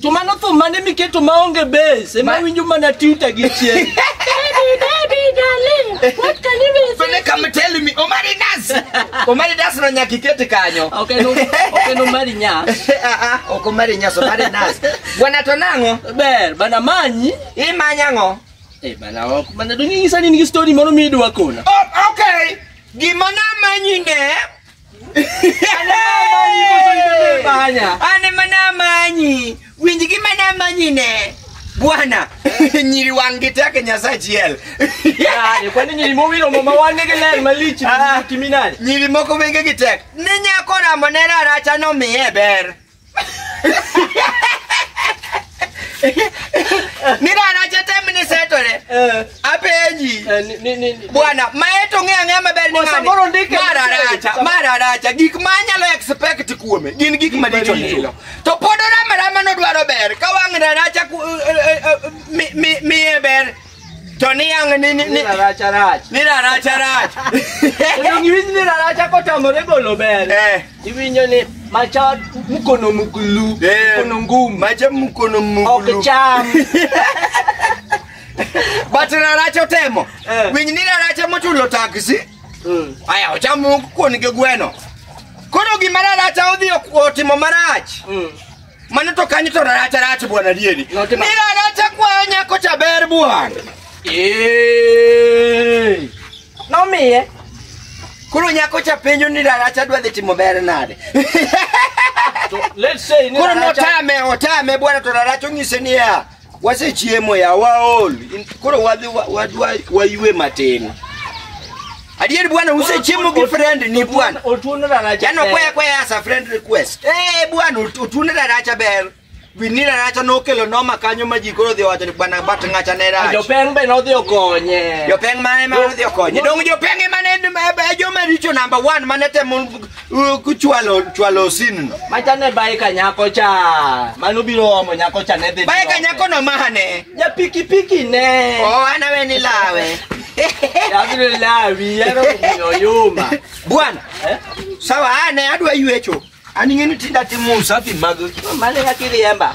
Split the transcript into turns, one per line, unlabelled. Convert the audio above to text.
To mano thum mane miketo maonge base ema Ma- winjo mana tuta gi chien. Pende kama tell me Omari Das. Omari Das no nyaka ikete kanyo. Ok en ok en Omari Nyas. Ah ah, ok Omari Nyas, Omari Das. Bwana to nang'o? Ber bana manyi. Imanya ng'o? Eh bana ok bana dong' inyisa ni nigi story moro midwa kona. Oh, okay. Gima namanyi ne Ane mana manyi. Winj gi mana manyi ne. Bwana. Nyiri wang' gi tek Nyasaye achiel. Yaani, kwa nini limowilo mama wange ke ler malich Ah. kiminani? Nyiri moko wenge gi tek. Ne nyako ramo ne raracha nomiye ber. Nidara chatem ni setore. Eh, Apenji. eh, ni- ni- ni- ni- Bwana, maeto ng'e ang'e maber ni Kwa ng'ani. samoro ndike Mara machwere. racha, Sam- mara racha. Gik ma anyalo expect kuome gin gik maricho maricho. lilo. To pod orama rama nodwaro ber. Ka wang'na racha ku- eh, eh, eh, mi- mi- miye ber. To niang' ni ni ni Rarach arach. ni rarach arach. Kendo giwinj ni rarach akotamore golo ber. Eh, Iwinjo ni macha mkono mkulu, Eh. mkono ngumu. macha mkono Ok mugulu. cham. But rarach otemo. Eh. Winy ni rarach ema ochulo taksi. Mm. Aya ochamo kuon gi gweno. Koro gima rarach odhi otimo marach. Mm. Mano to kanyo to rach rach bwana dieri. Notimo- Nira rach kwa nyako cha ber bwana. Eh. Nomiye. Koro nyako cha penjo ni rach adwa dhi timo ber nade. To let's say ni Koro Raracha- notame otame bwana to rach onyise niya. wasechiemo ya waol In- koro wadhi wa- wadwa waywe matin adier bwana usechiemo gi friend ni bwana Otuno raracha. jano kwaya kwaya as a friend request eh bwana ut- utune raracha ber wini raracha nokelo noma kanyo ma ji koro odhi owacho ni bwana bat ng'acha ne rach Jopeng be nodhi okonye. jopeng mane ma odhi okonye dong jopeng emane joma richo number one mane temo U- Kuchwalo chwalo sin no. Macha ne bae ka nyako cha. Mano biro omo nyako cha ne dhi. Bae ka nyako no mahane. Ja piki piki ne. Oh, anawe ni lawe. Abiro lawi yaro kuyo yuma. Bwana, Eh? sawa ane adwa yuecho. An ing'eni tinda timo usafi mag Mane yakiriemba.